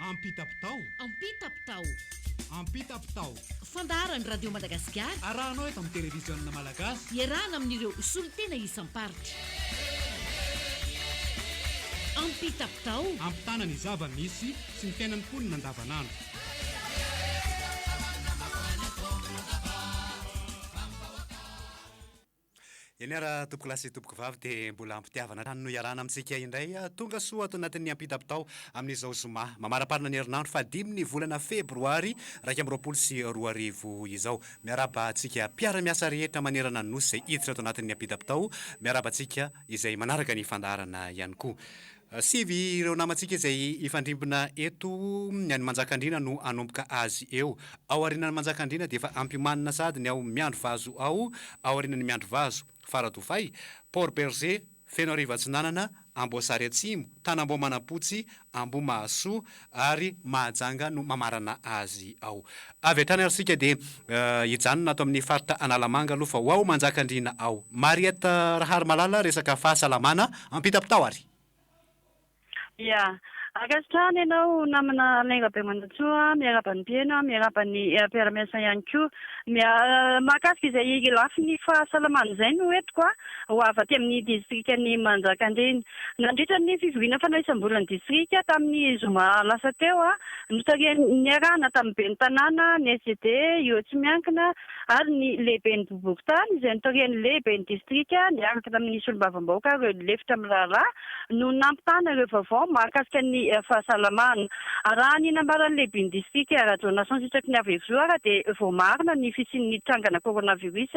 Ampitapitao. Ampitapitao. Ampitapitao. Fandaharan'ny Radio Madagasikara. Arahanao eto amin'ny televiziona malagasy. Iarahana amin'ireo solontena isam-paritra. Ampitapitao. Ampitana ny zava-misy sy ny fiainan'ny mponina andavanandro. Eny ara tompoko lahy sy tompoko vavy dia mbola ampitiavana hatrany no iarahana amintsika indray tonga soa ato anatin'ny ampitam-pitao amin'izao zoma mamaraparana ny herinandro fahadimy ny volana febroary iraika amby roapolo sy roa arivo izao. Miarahaba antsika mpiara-miasa rehetra manerana ny Nosy izay hiditra ato anatin'ny ampitam-pitao. Miarahaba antsika izay manaraka ny fandaharana ihany koa. Sivy ireo namantsika izay hifandrimbona eto, ny an'i Manjakandriana no hanomboka azy eo. Ao aorianan'i Manjakandriana dia efa ampiomanina sahady ny ao Miandrivazo ao aorianan'i Miandrivazo, Faradofay, Port Bergé, Fenoarivo Atsinanana, Amboasary Atsimo, Tanambao Manampotsy, Ambohimahasoa, ary Mahajanga no mamarana azy ao. Avy hatrany ary isika dia hijanona ato amin'ny faritra Analamanga aloha fa ho ao Manjakandriana ao. Mariette Raharimalala, resaka fahasalamana ampitapitao ary. Ia. Ankasitrahana ianao namana Alain Rabemanantsoa, miarahaba ny mpiheno, miarahaba ny mpiara-miasa ihany koa. Mahakasika izay lafiny fahasalamana izay no entiko an. ho avy aty amin'ny distrikan'i Manjakandriana. Nandritra ny fivoriana fanao isam-bolan'ny distrika tamin'ny zoma lasa teo, notarihan'ny niarahana tamin'ny ben'ny tanàna, ny SED, ireo tsy miankina ary ny lehiben'ny boriborintany izay notarihan'ny lehiben'ny distrika niaraka tamin'ny solombavambahoaka ireo lefitra mirahalahy no nampitana ireo vaovao mahakasika ny fahasalamana. Raha ny nambaran'ny lehiben'ny distrika Rajaonason Sitraky ny Avo Hevizoara dia voamarina ny fisian'ny trangana coronavirus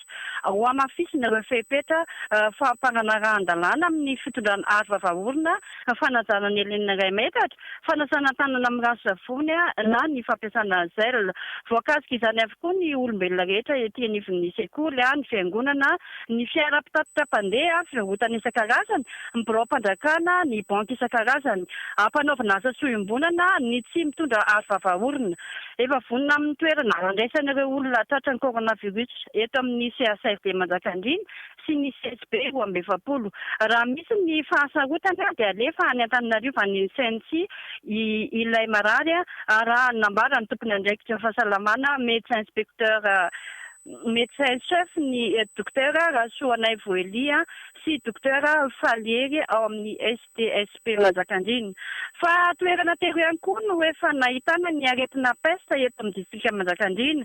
Andriamanitra. Hohamafisina ireo fepetra fampananarahan-dalàna amin'ny fitondrana aro vava-orona, fanajana ny helen'ny iray metatra, fanasana tanana amin'ny rano sy savony na ny fampiasana gel. Voakasika izany avokoa ny olombelona rehetra ety anivon'ny sekoly, ny fiangonana, ny fiara mpitatitra mpandeha, fivarotana isan-karazany, ny biraom-pandrakana, ny banky isan-karazany. Hampanaovina asa soa iombonana ny tsy mitondra aro vava-orona. Efa vonona amin'ny toerana handraisana ireo olona tratran'ny coronavirus eto amin'ny CHRD Manjakandriana sy ny CHB roa amby efapolo. Raha misy ny fahasarotana dia alefa any Antananarivo any Insensy ilay marary raha ny nambaran'ny tompon'andraikitra fahasalamana Médecin Inspecteur Médecin Chef ny Dokotera Rasoanaivo Elia sy Dokotera Faly Hery ao amin'ny DSP Manjakandriana. Fa toerana telo ihany koa no efa nahitana ny aretina pesta eto amin'ny distrika Manjakandriana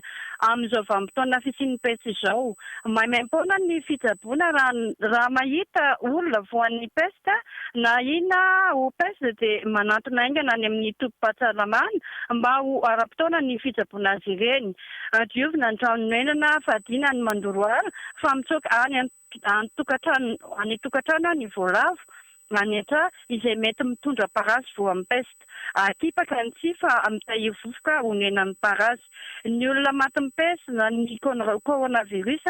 amin'izao vanim-potoana fisian'ny pesta izao. Maimaim-poana ny fitsaboana raha mahita olona voan'ny pesta na ahiana ho pesta dia manantona haingana any amin'ny tobim-pahasalamana mba ho ara-potoana ny fitsaboana azy ireny. Diovina ny trano noenana fadiana ny mandoro ala fa mitsoaka any an. Any tokantrano any an-tokantrano aho ny voalavo manetra izay mety mitondra parasy voan'ny pesta. Atipaka ny tsihy fa mitahiry vovoka onenan'ny parasy. Ny olona matin'ny pesta na ny coronavirus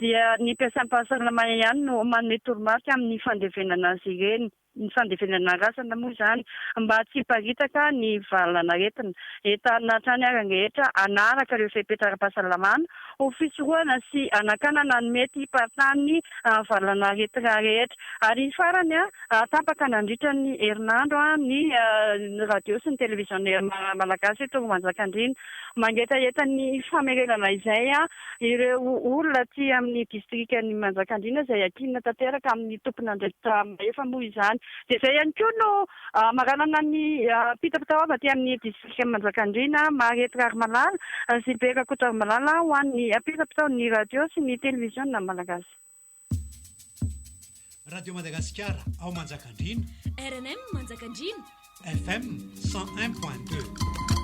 dia ny mpiasam-pahasalamana ihany no manome toromarika amin'ny fandevenana azy ireny. ny fandevenana razana moa izany mba tsy hiparitaka ny valan'aretina. Entanina hatrany ary ny rehetra hanaraka ireo fepetra ara-pahasalamana ho fisorohana sy hanakanana ny mety hiparitan'ny valan'aretina rehetra. Ary farany, tapaka nandritra ny herinandro ny radio sy ny televiziona malagasy eto Manjakandriana mangetaheta ny famerenana izay. Ireo olona aty amin'ny distrikan'i Manjakandriana izay ankinina tanteraka amin'ny tompon'andraikitra mahefa moa izany. Dia izay ihany koa no maranana ny mpitapitaoava aty amin'ny distrikan'i Manjakandriana, Maharety Raharimalala sy Be Rakotoarimalala ho an'ny ampiram-pitaon'ny radio sy ny televiziona malagasy. Radio Madagasikara ao Manjakandriana. RMM Manjakandriana. FM 101.2.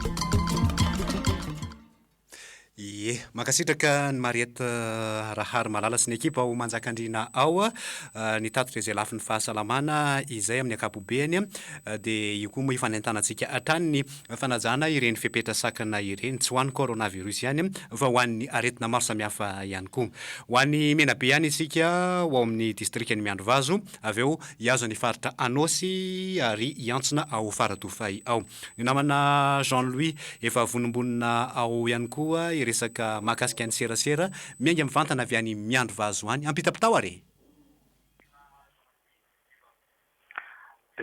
Ie, mankasitraka ny Mariette euh, Rahary Malala sy ny ekipa ao Manjakandriana ao ah, euh, nitatitra izay lafiny fahasalamana izay amin'ny ankapobeny ah, dia io koa moa ifanentanantsika hatrany fanajana ireny fepetra sakana ireny, tsy ho an'ny coronavirus ihany fa ho an'ny aretina maro samihafa ihany koa. Ho any Menabe ihany isika, ho ao amin'ny distrikan'i Miandrivazo, avy eo hihazo ny faritra Anôsy ary hiantsona ao Faradofay ao. Ny namana Jean Louis, efa vonombonona ao ihany koa hiresaka mahakasika ny serasera miainga mivantana avy any Miandrivazo any. Ampitapitao ary e!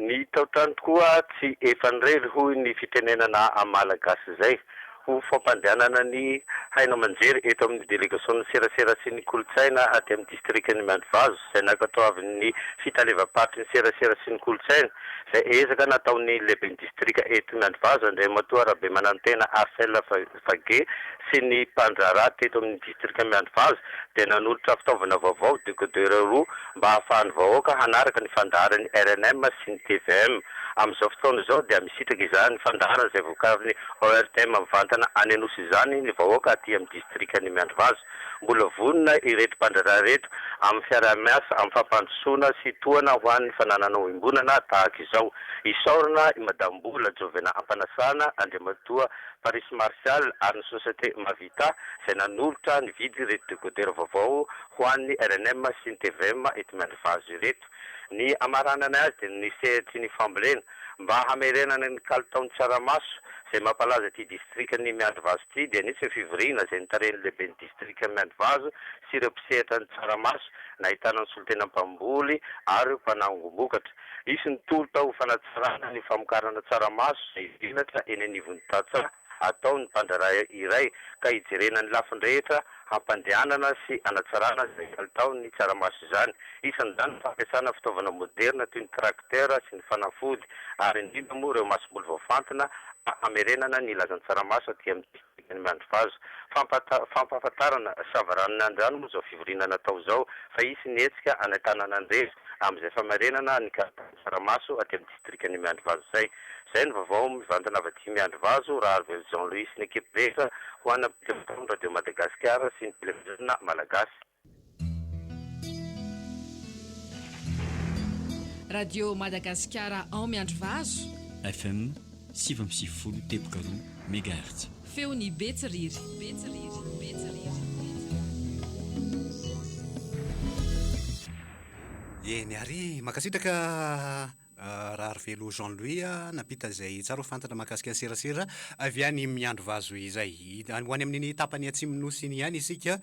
Ny taotrano tokoa tsy efan'irery hoy ny fitenenana amin'ny Malagasy izay. Ho fampandehanana ny haino aman-jery eto amin'ny delegasion'ny serasera sy ny kolontsaina aty amin'ny distrikan'i Miandrivazo izay nankatoavin'ny fitalevam-paritry ny serasera sy ny kolontsaina izay ezaka nataon'ny lehiben'ny distrika eto Miandrivazo Andriamatoa Rabemanantena Arcel Fage sy ny mpandraharaha teto amin'ny distrika Miandrivazo dia nanolotra fitaovana vaovao, décodeur roa, mba hahafahan'ny vahoaka hanaraka ny fandaharan'ny rnm sy ny tvm. Amin'izao fotoana izao dia misitraka izany fandaharana izay vokarin'ny ORTM mivantana any Anosy izany ny vahoaka aty amin'ny distrikan'i Miandrivazo. Mbola vonona ireto mpandraharaha ireto amin'ny fiaraha-miasa amin'ny fampandrosoana sy tohana ho an'ny fananana oimbonana tahaka izao. Isaorana i Madame Mbola Jovena Ampanasana, Andriamatoa. Paris Martial ary ny Société Mavita izay nanolotra nividy ireto décodeurs vaovao ho an'ny rnm sy ny tvm eto Miandrivazo ireto. Ny hamaranana azy dia ny sehatry ny fambolena mba hamerenana ny kalitaon'ny tsaramaso izay mampalaza ity distrikan'ny Miandrivazo ity dia nisy ny fivoriana izay notarihan'ny lehiben'ny distrikan'i Miandrivazo sy ireo mpisehatra ny tsaramaso nahitana ny solontenan'ny mpamboly ary mpanangom-bokatra. Hisy ny tolotra ho fanatsarana ny famokarana tsaramaso izay venatra eny anivon'ny tantsaha ataon'ny mpandraharaha iray ka hijerena ny lafiny rehetra hampandehanana sy hanatsarana izay kalitaon'ny tsaramaso izany. Isan'izany ny fampiasana fitaovana moderina toy ny tracteur sy ny fanafody ary indrindra moa ireo masomboly voafantina mba hamerenana ny lazan'ny tsaramaso aty amintsika. Dikan'ny mandri-vazo. Fampahata, fampahafantarana, savaranon'Andrano moa izao fivoriana natao izao fa hisy ny hetsika any Antananandrery amin'izay famarenana ny kalitaon'ny tsaramaso aty amin'ny distrikan'i Miandrivazo izay. Izay ny vaovao mivantana avy aty Miandrivazo, Raharivelo Jean Louis sy ny ekipa rehetra ho an'ny Ampitelo Taon'ny Radio Madagasikara sy ny Televiziona Malagasy. Radio Madagasikara ao Miandrivazo. FM sivy amby sivifolo teboka roa megahertz. Feon'i Betsiriry. Betsiriry. Betsiriry. Eny ary, mankasitraka. Raharivelo Jean Louis, Nampita izay tsara ho fantatra mahakasika ny serasera avy any Miandry vazo izay. Ho any amin'iny tapany atsimon'ny Nosy iny ihany isika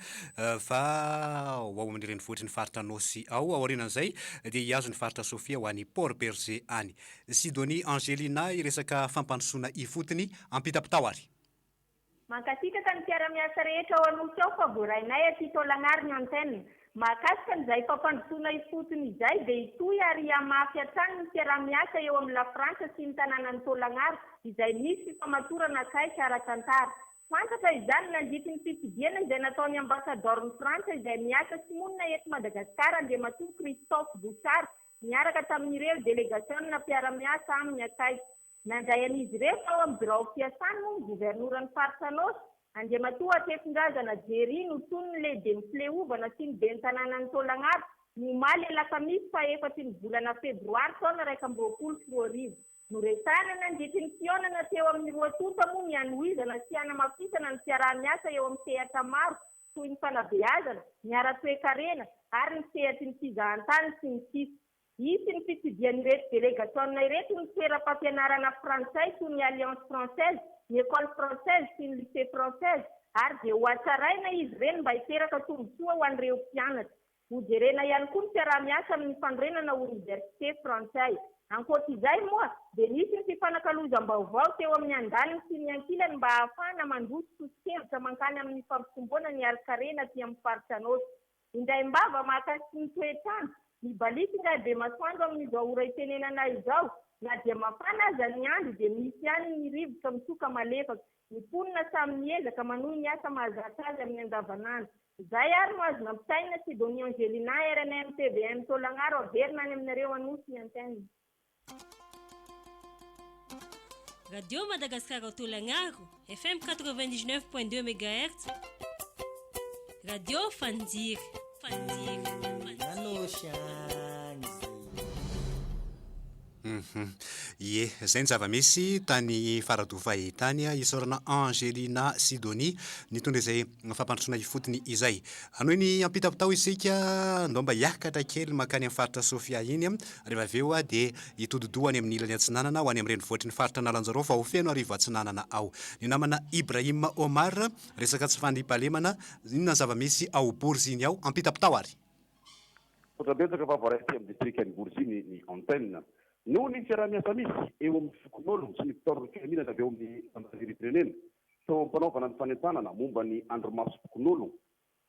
fa ho ao amin'ny renivohitry ny faritra Anôsy ao. Aorianan'izay dia hihazo ny faritra Sofia ho any Port Bergé any. Sidonie Angelina hiresaka fampandrosoana ifotony ampitam-pitao ary. Mankasitraka ny mpiara-miasa rehetra ao Anosy ao fa voarainay aty Taolagnaro ny antenne. Mahakasika an'izay fampandrosoana ifotony izay dia hitohy ary hihamafy hatrany ny fiaraha-miasa eo amin'ny La Frantsa sy ny tanànan'i Taolagnaro izay misy fifamatorana akaiky ara-tantara. Fantatra izany nandritry ny fitsidihana izay nataon'ny Ambasadaoron'i Frantsa izay miasa sy monina eto Madagasikara Andriamatoa Christophe Bouchard niaraka tamin'ireo delegasionina mpiara-miasa aminy akaiky. Nandray an'izy ireo tao amin'ny birao fiasany moa ny governoran'ny faritra Anôsy, Andriamatoa Hatrefondrazana Jerry notsoiny ny lehiben'ny fileovana sy ny ben'ny tanànan'i Taolagnaro, ny omaly alakamisy faha efatry ny volana febroary taona iraika amby roapolo sy roa arivo. Noresahana nandritry ny fihaonana teo amin'ny roa tonta moa ny hanohizana sy hanamafisana ny fiaraha-miasa eo amin'ny sehatra maro toy ny fanabeazana, ny ara-toekarena ary ny sehatry ny fizahantany sy ny sisa. Hisy ny fitsidihan'ireto delegasiona ireto ny toeram-pampianarana frantsay toy ny Alliance Française, ny Ecole Française sy ny Lycée Française ary dia hohatsaraina izy ireny mba hiteraka tombontsoa ho an'ireo mpianatra. Hojerena ihany koa ny fiaraha-miasa amin'ny fanorenana oniversite frantsay. Ankoatra izay moa dia nisy ny fifanakalozam-baovao teo amin'ny andaniny sy ny ankilany mba hahafahana mandroso soso-kevitra mankany amin'ny fampitomboana ny harin-karena aty amin'ny faritra Anôsy. Indaim-bava maka sy ny toetr'andro. Mibaliaka ingahy Bemasoandro amin'izao ora itenenana izao, na dia mafana aza ny andro dia misy ihany ny rivotra mitsoka malefaka. Ny mponina samy miezaka manohy ny asa mahazatra azy amin'ny andavanandro. Izay ary no azo nampitainina Sidonie Angelina, rnm, tvm, Taolagnaro averina any aminareo Anosy ny antenne. Radio Madagascar Autolagnaro, FM 99.2 MHz. Radio Fanjiri, Fanjiri, mhm. Ie, izay ny zava-misy tany Faradofay tany ah, isaorana Angelina Sidonie nitondra izay fampandrosoana ifotony izay. Hanohy ny ampitapitao isika, ndomba hiakatra kely makany amin'ny faritra Sofia iny. Ah. Rehefa avy eo dia hitodi-doha any amin' ny ilany atsinanana ho any amin'ny renivohitry ny faritra Analanjaro fa ho feno Arivo Atsinanana ao. Ny namana Ibrahim Omar, resaka tsy fandriampahalemana, inona ny zava-misy ao Boriziny ao? Ampitapy tao ary. Misaotra betsaka fa voaray aty amin'ny distrika ny Boriziny ny antenne. Noho ny fiaraha-miasa misy eo amin'ny fokonolona sy ny mpitaorina filaminana avy ao amin'ny zandaririm-pirenena teo am-panaovana ny fanentanana momba ny andro masom-pokonolona,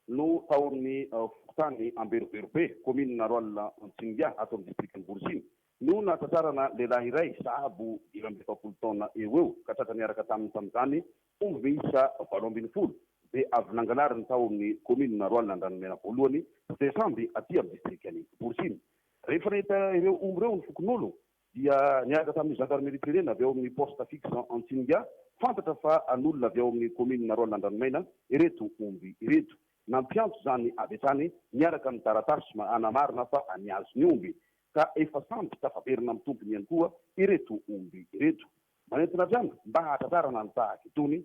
no taon'ny fokontany Amberoberobe, kaominina Rolle Antsingia, ato amin'ny distrikan'i Borosiny, no nahatratrarana lehilahy iray sahabo dimy amby efapolo taona eo ho eo ka tratra niaraka taminy tamin'izany omby miisa valo ambin'ny folo izay avy nangalariny tao amin'ny kaominina Rolle Andranomena voalohany sy Besamby aty amin'ny distrikan'i Borosiny. Rehefa nahita ireo omby ireo ny fokonolona dia niaraka tamin'ny Gendarmerie Plénée avy ao amin'ny Poste Fixe Antsinga, fantatra fa an'olona avy ao amin'ny Kaominina Rolle Andranomaina ireto omby ireto. Nampiantso izany avy hatrany miaraka amin'ny taratasy manamarina fa an'i Azy ny omby, ka efa samy tafaverina amin'ny tompony ihany koa ireto omby ireto. Manentana hatrany mba hahatratrarana ny tahaka itony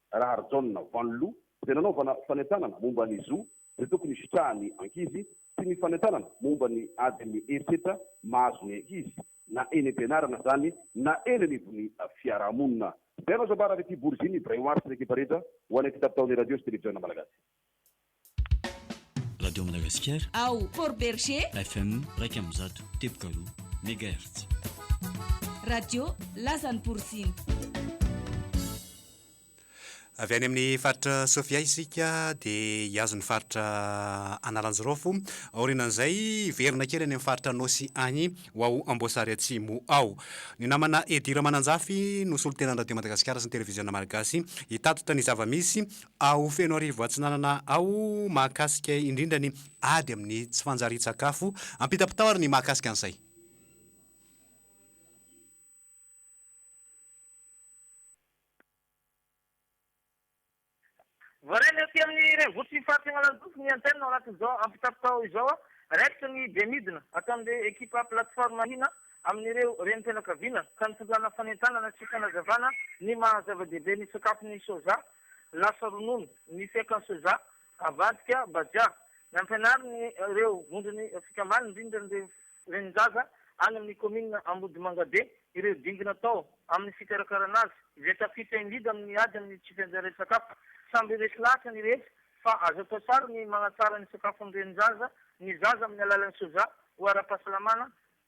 Raharijaona Vanloo, izay nanaovana fanentanana momba ny zo izay tokony hisitrahan'ny ankizy sy ny fanentanana momba ny adin'ny herisetra mahazo ny ankizy na eny am-pianarana izany na eny anivon'ny fiarahamonina. Izay no azom-bary avy aty Boriziny, Brain Wars, ny ekipa rehetra ho anay ity tapitao ny Radio sy Televiziona Malagasy. Radio Madagasikara. Ao Port Berger. FM iraika amby zato teboka roa megahertz. Radio Lazan'i Boriziny. Avy any amin'ny faritra Sofia isika dia hiazo ny faritra Analanjirofo. Aorianan'izay, hiverina kely any amin'ny faritra Nosy any ho ao Amboasary Atsimo ao. Ny namana Edy Ramananjafy no solontenan'ny Radio Madagasikara sy ny Televiziona Malagasy hitatitra ny zava-misy Ao Fenoarivo Atsinanana ao mahakasika indrindra ny ady amin'ny tsy fanjarian-tsakafo, ampitapitao ary ny mahakasika an'izay. Voarainy aty amin'ny renivohitry ny faritra Analanjosy ny antenne ao anatin'izao ampitapitao izao, raikitra ny be midina ataon'ireo ekipa plateforme hina amin'ireo renim-pianakaviana ka nitondràna fanentanana sy fanazavàna ny maha-zava-dehibe ny sakafon'ny soja lasa ronono, ny fiakan'ny soja, avadika, bajia. Nampianariny ireo vondron'ny fikambanana, indrindra ny Renin-jaza any amin'ny kaominina Ambodimangabe, ireo dingy natao amin'ny fikarakarana azy, izay tafita in-dida amin'ny ady amin'ny tsy fianjarian'ny sakafo. Samby resy lahatra ny rehetra fa azo atao tsara ny manatsara ny sakafon'ny renin-jaza ny zaza amin'ny alalan'ny soja ho ara-pahasalamana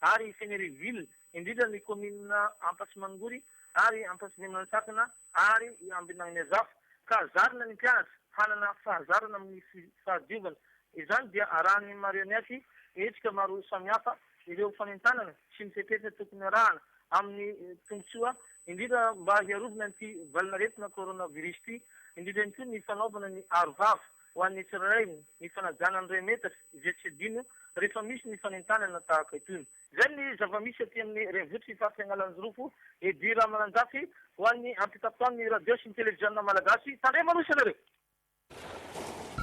ary i Fenerive-Ville, indrindra ny kaominina Ampasimangory ary Ampasinimantsakana ary i Ambinagniazafo, ka zarina ny mpianatra hanana fahazarana amin'ny fahadiovana. Izany dia arahan'ny marionette hetsika maro samihafa ireo fanentanana sy ny fepetra tokony arahana amin'ny tombotsoa indrindra mba hiarovana ity valin'aretina coronavirus ity, indrindra ihany koa ny fanaovana ny aro vava. Ho an'ny Israely, ny fanajana ny Remetra, izay tsy adino rehefa misy ny fanentanana tahaka itony. Izay ny zava-misy aty amin'ny renivohitr'i Faritra Analanjirofo. Eddy Ramananjafy, ho an'ny ampitapitaon'ny radio sy ny televiziona malagasy, tandremana hoy isanareo!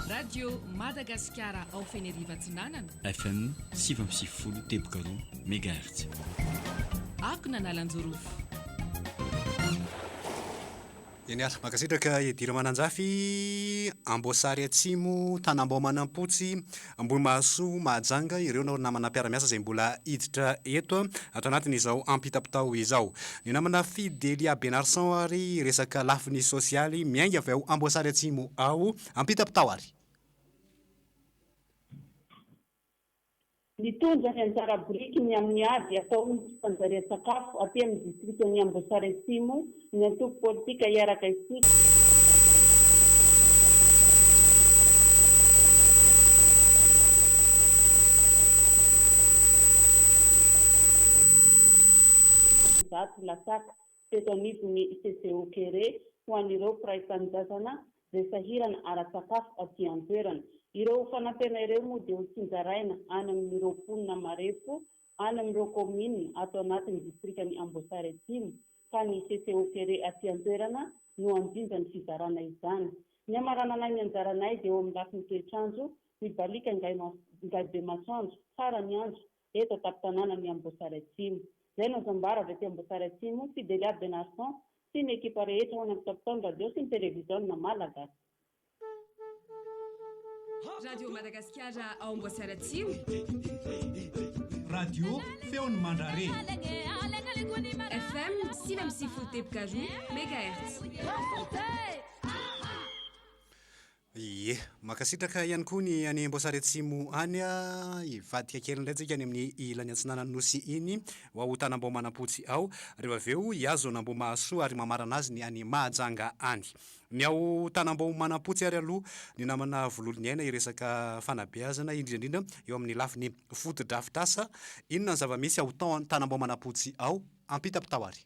Radio Madagasikara ao Feneriva Atsinanana. FM sivy amby sivifolo teboka roa megahertz. Akon' Analanjorofo. Genial. Mankasitraka Eddy Ramananjafy, Amboasary Atsimo, Tanambao Manampotsy, Ambohimahasoa, Mahajanga, ireo nao ry namana mpiara-miasa izay mbola hiditra eto ato anatin' izao ampitapitao izao. Ny namana Fidelia Benarson ary resaka lafiny sosialy miainga avy ao Amboasary Atsimo ao ampitapitao ary. Nitondra ny anjara birikiny amin'ny ady ataon'ny tsy fanjarian-tsakafo aty amin'ny distrikan'i Amboasary Atsimo ny antoko politika Hiaraka Isika, zato lasaka Teto anivon'ny CCO Kere ho an'ireo mpiray tanindrazana izay sahirana ara-tsakafo aty an-toerana. Ireo fanampena ireo moa dia ho tsinjaraina any amin'ireo mponina marefo any amin'ireo kaominina ato anatin'ny distrikan'i Amboasary Atsimo ka ny CCO Kere aty an-toerana no hanjinja ny fizarana izany. Ny hamarananay ny anjaranay dia eo amin'ny lafiny toetr'andro, mibaliaka ngaibemasoandro, farany andro, Teto an-tampon-tanàna ny Amboasary Atsimo. Izay no zambara avy aty Amboasary Atsimo, Fidelia Benarson sy ny ekipa rehetra ao anatin-tampon-taon'ny radio sy ny televiziona malagasy. Radio Madagasikara ao Amboasary Atsimo. Radio Feon'ny Mandrare. FM sivy amby sivifolo teboka roa megahertz. Ie. Mankasitraka ihany koa ny any Amboasary Atsimo any a! Hivadika kely indray tsika any amin'ny ilany atsinanan'ny Nosy iny, ho ao Tanambao Manampotsy ao. Reo avy eo hihazo an'Ambohimahasoa ary mamarana azy ny any Mahajanga any. Ny ao Tanambao Manampotsy ary aloha, ny namana Vololoniaina hiresaka fanabeazana, indrindra indrindra eo amin'ny lafiny fotodrafitrasa. Inona ny zava-misy ao Tanambao Manampotsy ao? Ampitapitao ary.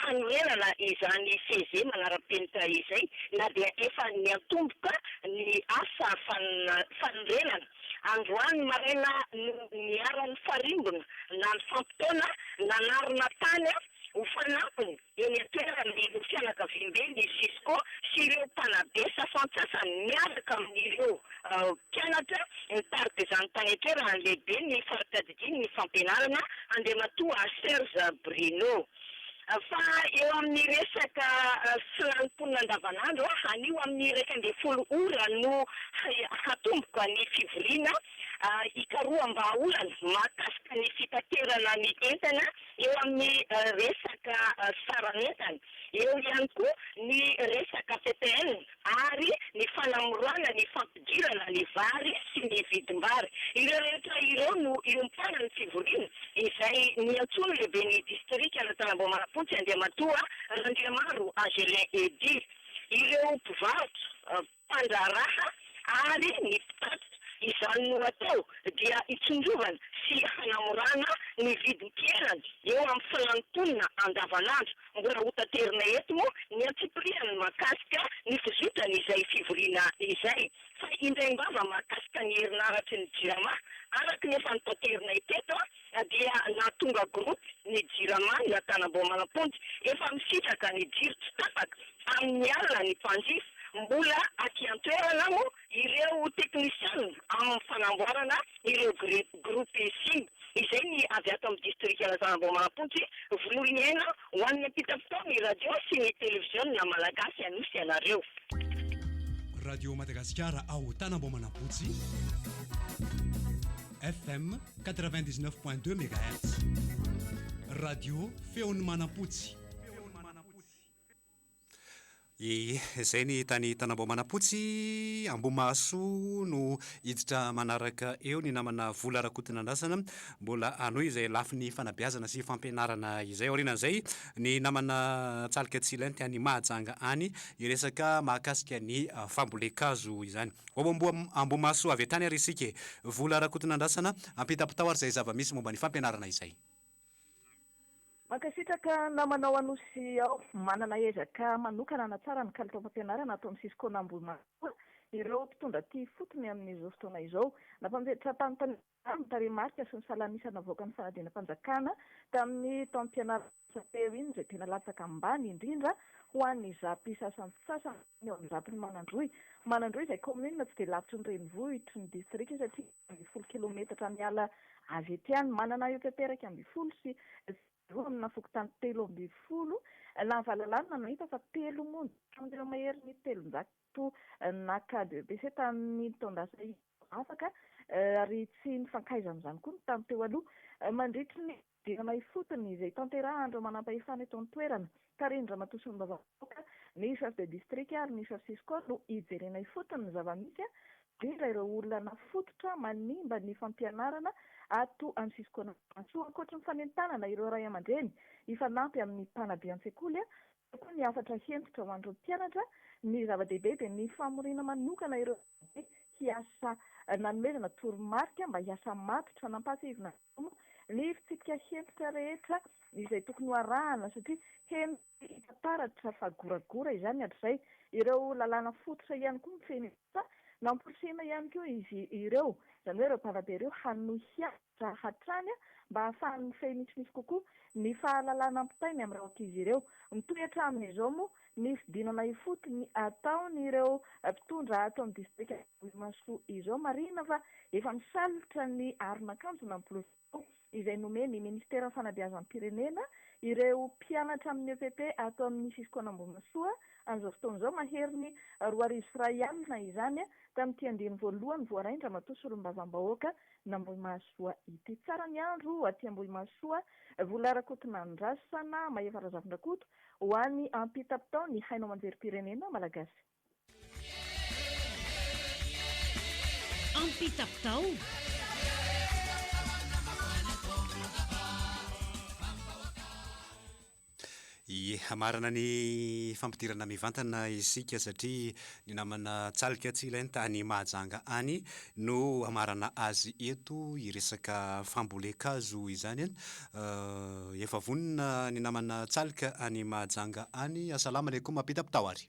hanorenana izany fehezemana ara-penitra izay na dia efa niantomboka ny asa fanorenana. Androany maraina no niara-nifarimbona na nifampitaona nanarina tany ho fanampiny eny an-toerana ireo fianakaviambe ny Cisco sy ireo mpanabe sasantsasany miaraka amin'ireo mpianatra nitari-dizany tany an-toerana ny lehiben'ny faritra Diniho ny fampianarana Andriamatoa Serge Bruno fa eo amin'ny resaka filan'ny-mponina andavanandro, anio amin'ny iraika ambin'ny folo ora no hatomboka ny fivoriana ikaroham-bahaolana mahakasika ny fitaterana ny entana eo amin'ny resaka saran'entana, eo ihany koa ny resaka ppn. ary ny fanamorana ny fampidirana ny vary sy ny vidim-bary. Ireo rehetra ireo no iompanan'ny fivoriana izay niantsoan'ny lehiben'ny distrikan'Antanambao-Manapontsy Andriamatoa Randriamaro Agelin Eddy, ireo mpivarotra, mpandraharaha ary ny mpitatitra. Izany no atao dia hitsinjovana sy hanamorana ny vidim-piainana eo amin'ny filan'ny mponina andavanandro. Mbola hotaterina eto moa ny antsipirihan'ny mahakasika ny fizotran'izay fivoriana izay. Fa indray am-bava mahakasika ny herinaratry ny Jirama. Araka ny efa notaterinay teto dia nahatonga gropy ny Jirama ny Antanamboamanamponja. Efa misitraka ny jiro tsy tapaka amin'ny alina ny mpanjifa. Mbola aty an-toerana moa Ireo teknisiana amin'ny fanamboarana ireo gropy sim izay ny avy ato amin'ny distrika Lazana Ambohimanampontsy, vonoy ny aina ho an'ny ampitam-pitao ny radio sy ny televiziona malagasy anosy ianareo. Radio Madagasikara ao Tana Ambohimanampotsy, FM quatre-vingt-dix-neuf point deux megahertz, radio Feon'i Manampotsy. Izay ny tany Tanambao Manapotsy, Ambohimahasoa no hiditra manaraka eo, ny namana Vola Rakotonandrasana mbola hanohy izay lafiny fanabeazana sy fampianarana izay. Aorianan'izay, ny namana Tsaloka Tsilainty any Mahajanga any, hiresaka mahakasika ny fambolen-kazo izany. Ho ao Ambohimahasoa avy hatrany ary isika e! Vola Rakotonandrasana, ampitapitao ary izay zava-misy momba ny fampianarana izay. Mankasitraka namanao Anosy ao. Manana ezaka manokana hanatsara ny kalitaom-pampianarana ato amin'ny sisin-kona Ambohimatoa ireo mpitondra aty ifotony amin'izao fotoana izao. Nampanvetram-panontaniana ny tarehimarika sy ny salan'isa navoakan'ny fanadinam-panjakana tamin'ny taom-pianarana lasa teo iny izay tena latsaka ambany indrindra ho an'ny zapy sasantsasany eo amin'ny zapin'i Manandroy. Manandroy izay kaominina tsy dia lavitry ny renivohitry ny distrika satria ambin'ny folo kilometatra miala avy ety any. Manana eo tety iraika ambin'ny folo sy roa amina fokontany telo ambin'ny folo na valalahy no hita fa telo monja tamin'ireo maherin'ny telonjato naka BEPC tamin'ny taon-dasa izao afaka ary tsy nifankaizan'izany koa ny tany teo aloha. Mandritry ny Dingana ifotony izay tanterahan'ireo manampahefana eto an-toerana, tarihin-dRamatoa Solombavambe Raoka, ny Chef de District ary ny Chef Cisco no hijerena ifotony ny zava-misy, indrindra ireo olana fototra manimba ny fampianarana ato amin'ny Cisco-An'Ambohimahasoa. Ankoatry ny fanentanana ireo ray aman-dreny hifanampy amin'ny mpanabe an-tsekoly, eo koa ny hafatra hentitra ho an'ireo mpianatra. Ny zava-dehibe dia ny famoriana manokana ireo mpanabe hiasa nanomezana toromarika mba hiasa matotra nampahatsiahivin'Andriamanitra. Koa ny fitsipika hentitra rehetra izay tokony ho arahana satria henoy hita taratra fa goragora izany hatrizay. Ireo lalàna fototra ihany koa mifehy ny asa, namporisihina ihany koa izy ireo, izany hoe ireo mpanabe ireo hanohy hianatra hatrany mba hahafahany mifehy misimisy kokoa ny fahalalana ampitainy amin'ireo ankizy ireo. Mitohy hatramin'izao moa Nisy dinana ifotony ataon'ireo mpitondra ato amin'ny distrika Ambohimasoa izao. Marihina fa efa misalotra ny aron'akanjona mipolisy izay nomen'ny ministeran'ny fanabeazam-pirenena ireo mpianatra amin'ny epp ato amin'ny sisin-koan'Ambohimasoa amin'izao fotoana izao. Maherin'ny roa arivo sy iray alina izany tamin'ity andiany voalohany voarain-dRamatoa Solombavambahoaka n'Ambohimahasoa ity. Tsara ny andro aty Ambohimahasoa, Vola Rakotonandrasana, Mahefa Razafindrakoto, Ho any ampitapitao ny haino aman-jerim-pirenena malagasy. Ampitapitao! Ie, hamarana ny fampidirana mivantana isika satria Ny namana Tsaliaka tsy ilainy tany Mahajanga any no hamarana azy eto i resaka fambolen-kazo izany an! Efa vonona ny namana Tsaliaka any Mahajanga any, asalama alaikum Mapita mpitao ary.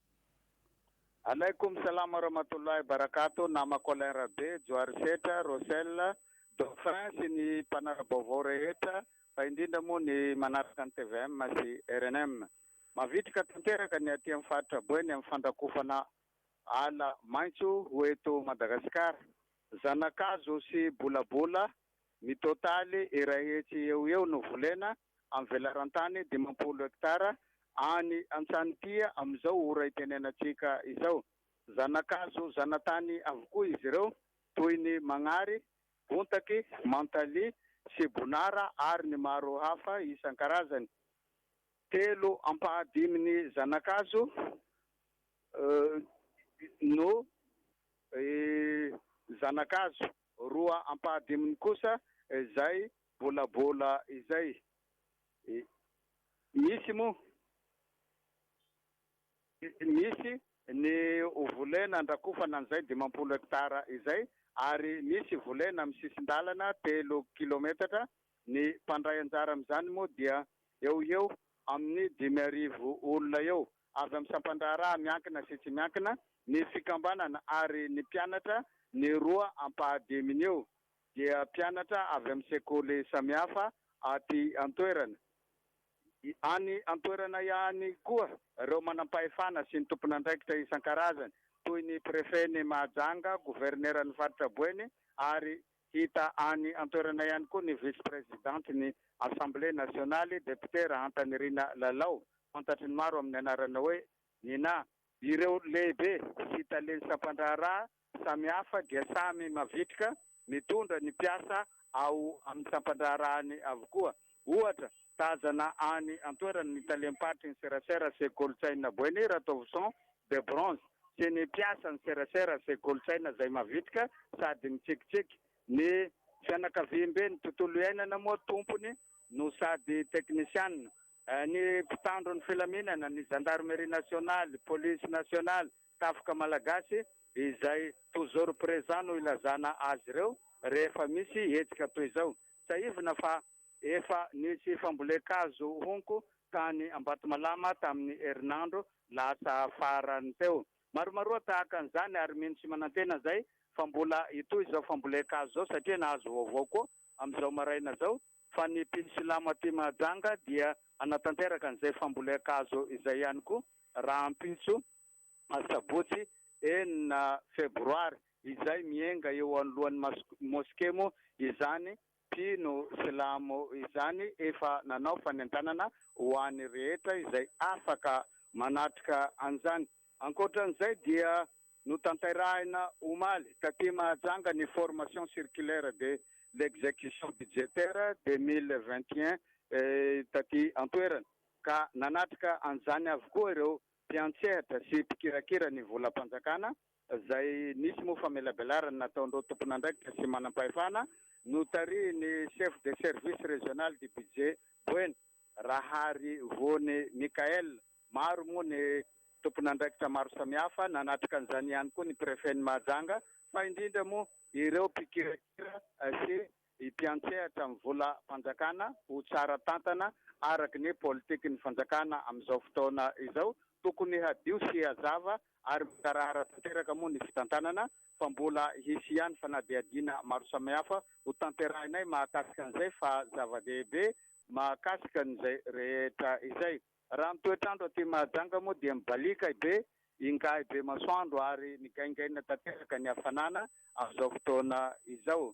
Alaikum salam warahmatullahi barakatuh namako Alain Rabe, Johary Setra, Rosel, Dauphin sy ny mpanara-baovao rehetra fa indrindra moa ny manaraka ny tvm sy rnm. Mavitrika tanteraka ny aty amin'ny faritra Boeny amin'ny fandrakofana ala maitso ho eto Madagasikara. Zanakazo sy bolabola mitotaly iray hetsy eo ho eo no volena amin'ny velaran-tany dimampolo hektara any Antsanopia amin'izao ora itenenantsika izao. Zana-kazo zana-tany avokoa izy ireo toy ny magnary, bontaky, mantalia, sibonara ary ny maro hafa isan-karazany. Telo ampahadimin'ny zana-kazo no zana-kazo. Roa ampahadiminy kosa izay bolabola izay. Misy moa misy ny volena andrakofana an'izay dimampolo hektara izay ary misy volena amin'ny sisin-dalana telo kilometatra. Ny mpandray anjara amin'izany moa dia eo ho eo amin'ny dimy arivo olona eo avy amin'ny sampan-draharaha miankina sy tsy miankina, ny fikambanana ary ny mpianatra, ny roa ampahadiminy eo dia mpianatra avy amin'ny sekoly samihafa aty an-toerana. Any an-toerana ihany koa ireo manam-pahefana sy ny tompon'andraikitra isan-karazany toy ny Prefet-n'i Mahajanga, Governeran'ny Faritra Boeny ary Hita any an-toerana ihany koa ny vice-prezidantin'ny Assemblée nationale, depiote Rahantanirina Lalao, fantatry ny maro amin'ny anarana hoe Nina. Ireo lehibe sy talen'ny sampan-draharaha samihafa dia samy mavitrika mitondra ny mpiasa ao amin'ny sampan-draharahany avokoa. Ohatra, tazana any an-toerana ny talem-paritry ny serasera sy kolontsaina Boeny Ratovison de Bronze sy ny mpiasan'ny serasera sy kolontsaina izay mavitrika sady mitsikitsiky. Ny fianakaviamben'ny tontolo iainana moa tompony no sady teknisianina. Ny mpitandro ny filaminana, ny Zandarmeria Nasionaly, Polisy Nasionaly, Tafika Malagasy dia izay toujours présent no ilazana azy ireo rehefa misy hetsika toy izao. Tsiahivina fa efa nisy fambolen-kazo honko tany Ambatomalama tamin'ny herinandro lasa farany teo. Maromaroa tahaka an'izany ary mino sy manantena izay fa mbola hitohy izao fambolen-kazo izao satria nahazo vaovao koa amin'izao maraina izao fa ny mpino silamo aty Mahajanga dia hanatanteraka an'izay fambolen-kazo izay ihany koa rahampitso Asabotsy enina febroary izay mienga eo anoloan'ny Moske moa izany mpino silamo izany efa nanao fanentanana ho an'ny rehetra izay afaka manatrika an'izany. Ankoatran'izay dia notanterahina omaly taty Mahajanga ny Formation circulaire de l'execution budgétaire deux mille vingt et un taty an-toerana ka nanatrika an'izany avokoa ireo Mpiantsehatra sy mpikirakira ny volam-panjakana, izay nisy moa famelabelarana nataon'ireo tompon'andraikitra sy manam-pahefana, notarihin'ny Chef de Service Régional du Budget, Boeny, Raharivony Michaël. Maro moa ny tompon'andraikitra maro samihafa, nanatrika an'izany ihany koa ny Prefet-n'i Mahajanga, fa indrindra moa ireo mpikirakira sy Ny mpiantsehatra amin'ny volam-panjakana ho tsara tantana araka ny politikin'ny fanjakana amin'izao fotoana izao, tokony hadio sy hazava ary mikarahara tanteraka moa ny fitantanana fa mbola hisy ihany fanadihadiana maro samihafa ho tanterahinay mahakasika an'izay fa zava-dehibe mahakasika an'izay rehetra izay. Raha ny toetr'andro aty Mahajanga moa dia mibaliaka be ingahy Bemasoandro ary nigaingaina tanteraka ny hafanana amin'izao fotoana izao.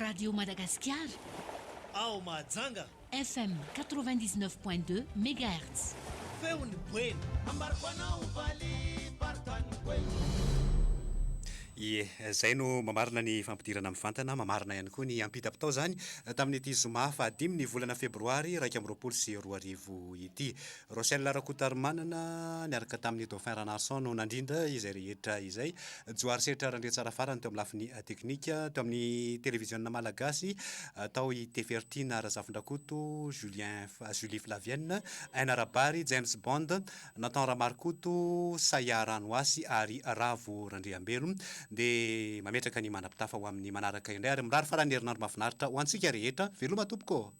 Radio Madagasikara ao Mahajanga. FM 99 point 2 megahertz. Feon'ny Boeny. Ambariko anao valibartan'ny Boeny. Ie, izay no mamarina ny fampidirana mivantana, mamarina ihany koa ny ampitapitao izany tamin'ity zoma fahadimy ny volana febroary iraika amby roapolo sy roa arivo ity. Rochelle Rakotarimanana niaraka tamin'ny Dauphin Ranarison no nandrindra izay rehetra izay. Johary Setra Randriatsara farany teo amin'ny lafiny teknika. Teo amin'ny televiziona malagasy, tao i Tefertina Razafindrakoto, Julien, Julie Flavienne, Aina Rabary, James Bond, Nathan Ramarokoto, Sayah Ranohasy ary Ravo Randriambelo. Dia mametraka ny mandrapitafa ho amin'ny manaraka indray ary mirary faran'ny herinandro mahafinaritra ho antsika rehetra. Veloma tompoko ô!